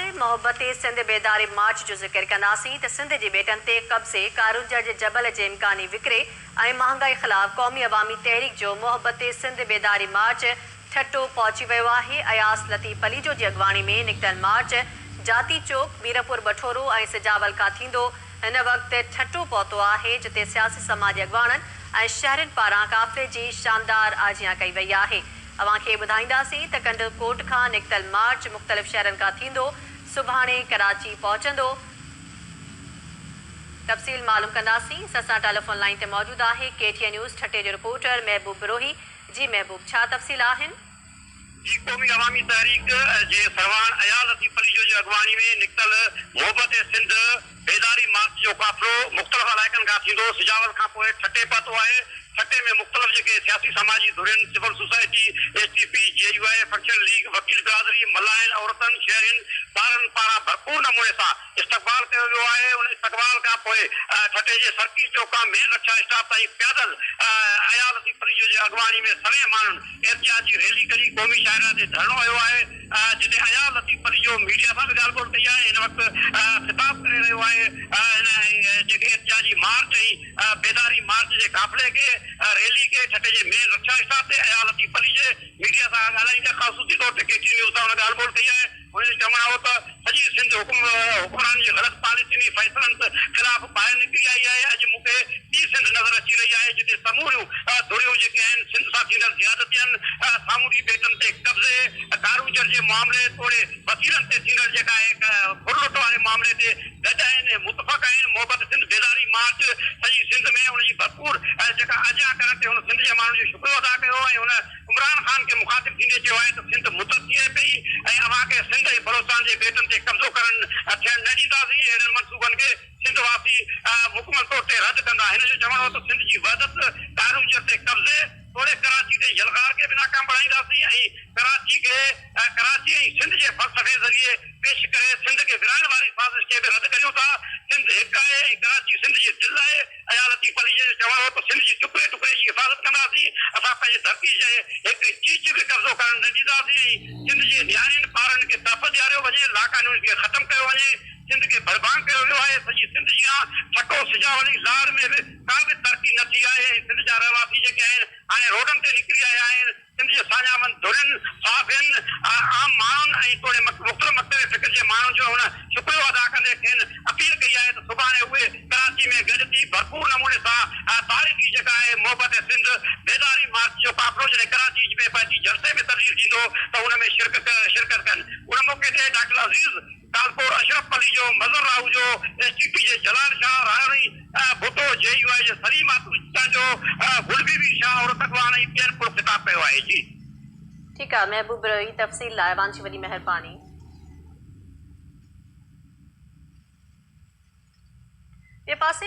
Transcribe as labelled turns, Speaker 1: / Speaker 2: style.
Speaker 1: ڪندي محبتي سنڌ بيداري مارچ جو ذڪر ڪنداسين ته سنڌ جي ٻيٽن تي قبضي، ڪارونجهر جي جبل جي امڪاني وڪري ۽ مهانگائي خلاف قومي عوامي تحريڪ جو محبتي سنڌ بيداري مارچ ٺٽو پهچي ويو آهي، اياز لطيف پليجو جي اڳواڻي ۾ نڪتل مارچ جاتي چوڪ، ميرپور بٺورو ۽ سجاول کان ٿيندو هن وقت ٺٽو پهتو آهي جتي سياسي سماجي اڳواڻن ۽ شهرين پاران قافلي جي شاندار آجيان ڪئي وئي آهي. اوهان کي ٻڌائينداسين ته ڪنڊل ڪوٽ کان نڪتل مارچ مختلف شهرن کان ٿيندو سڀاڻي ڪراچي پهچندو تفصيل معلوم ڪنداسين سان سان ٽيليفون لائين تي موجود آهي K T N news Thatta جو رپورٽر محبوب بروهي جي محبوب ڇا تفصيل آهن. جي قومي
Speaker 2: عوامي تحريڪ جي سرواڻ اياز لطيف پليجو جي اڳواڻي ۾ نڪتل محبت سنڌ، بيداري مارچ جو قافلو مختلف علائقن کان ٿيندو سجاول کان پوء ٺٽي پهتو آهي، ٺٽي ۾ مختلف جيڪي سياسي سماجي ڌرين، civil society, S T P, J U I, functional league, وڪيل برادري، ملاحن، عورتن، شهرين، ٻارن پاران ڀرپور نموني سان استقبال ڪيو ويو آهي، ان استقبال کان پوء ٺٽي جي سرڪي چوڪ کان مين رڪشا اسٽاپ تائين پيادل اياز لطيف پليجو جي اڳواڻي ۾ سوين ماڻهن احتجاجي ريلي ڪڍي قومي شاهراهه تي ڌرڻو هنيو آهي. جتي اياز لطيف پليجو ميڊيا سان به ڳالهه ٻولهه ڪئي آهي، هن وقت خطاب ڪري رهيو آهي، هن جيڪي احتجاجي مارچ ۽ بيداري مارچ جي قافلي کي ريلي کي ٺٽي جي مين رڪشا اسٽاپ تي اياز لطيف پليجي ميڊيا سان ڳالهائيندي خاصوصي طور تي ڪي ٽي نيوز سان هن ڳالهه ٻولهه ڪئي آهي، هن جو چوڻ هو ته. سڄي سنڌ حڪمرانن جي غلط پاليسين ۽ فيصلن خلاف ٻاهر نڪري آئي آهي، اڄ مون کي ٻي سنڌ نظر اچي رهي آهي جتي سموريون ڌريون جيڪي آهن سنڌ سان ٿيندڙ زيادتين، سامونڊي ٻيٽن تي قبضي، ڪاروجر جي معاملي توڙي وسيلن تي ٿيندڙ جيڪا آهي ڦر لٽ واري معاملي تي گڏ آهن ۽ متفق آهن، محبت سنڌ بيداري مارچ سڄي سنڌ ۾ ان جي ڀرپور جيڪا اجيان ڪرڻ تي هن سنڌ جي ماڻهن جو شڪريو ادا ڪيو ۽ هن. عمران خان کي مخاطب ٿيندي چيو آهي ته سنڌ متحد ٿي رهي پئي ۽ اوهان کي سنڌ ۽ بلوچستان جي ٻيٽن تي قبضو ڪرڻ ٿيڻ نه ڏينداسين، اهڙن منصوبن کي سنڌ واسي مڪمل طور تي رد ڪندا. هن جو چوڻ هو ته سنڌ جي وحدت، ٽائرونجر تي قبضي توڙي ڪراچي تي يلغار کي به ناڪام بڻائينداسين ۽ ڪراچي کي. ۽ ڪراچي ۽ سنڌ جي فلسفي ذريعي پيش ڪري سنڌ کي ورهائڻ واري سازش کي به رد ڪريون ٿا. سنڌ هڪ آهي ۽ ڪراچي سنڌ جي دل آهي. اياز لطيف عليء جو چوڻ هو ته سنڌ جي ٽڪري ٽڪري جي حفاظت ڪنداسين، اسان پنهنجي ڌرتي جي هڪ چيچ به قبضو ڪرڻ نه ڏينداسين ۽ سنڌ جي نياڻين ٻارڙن کي تحفظ ڏياريو وڃي، لاقانونيت کي ختم ڪيو وڃي، سنڌ کي ڀڙڀانگ ڪيو ويو آهي، سڄي سنڌ جيان ٺٽو، سجاولي، لاڙ ۾ به ڪا به ترقي نه ٿي آهي ۽ سنڌ جا رهواسي جيڪي آهن هاڻي روڊن تي نڪري آيا آهن. سنڌ جي ساڃاهوند ڌرين، صحافين، عام ماڻهن ۽ توڙي مختلف مڪتب فڪر جي ماڻهن جو هن شڪريو ادا ڪندي کين اپيل ڪئي آهي ته سڀاڻي اهي ڪراچي ۾ گڏ ٿي ڀرپور نموني سان تاريخي جيڪا آهي محبت سنڌ بيداري مارچ جو قافلو جڏهن ڪراچي ۾ پنهنجي جلسي ۾ تبديل ٿيندو ته ان ۾ شرڪت ڪن. ان موقعي تي doctor Aziz. Talpur Ashraf Palijo, Mazhar Ahujo, S T P جي جلال شاهه راهوڙي، ڀٽو، جي يو آء جي سليم آتو چچانجو، گل بي بي شاهه عورت اڳواڻ ۽ ٻين پڻ خطاب ڪيو آهي. جي. ٺيڪ آ
Speaker 1: محبوب رهي تفصيل لاء اوهان جي وڏي مهرباني. ٻئي پاسي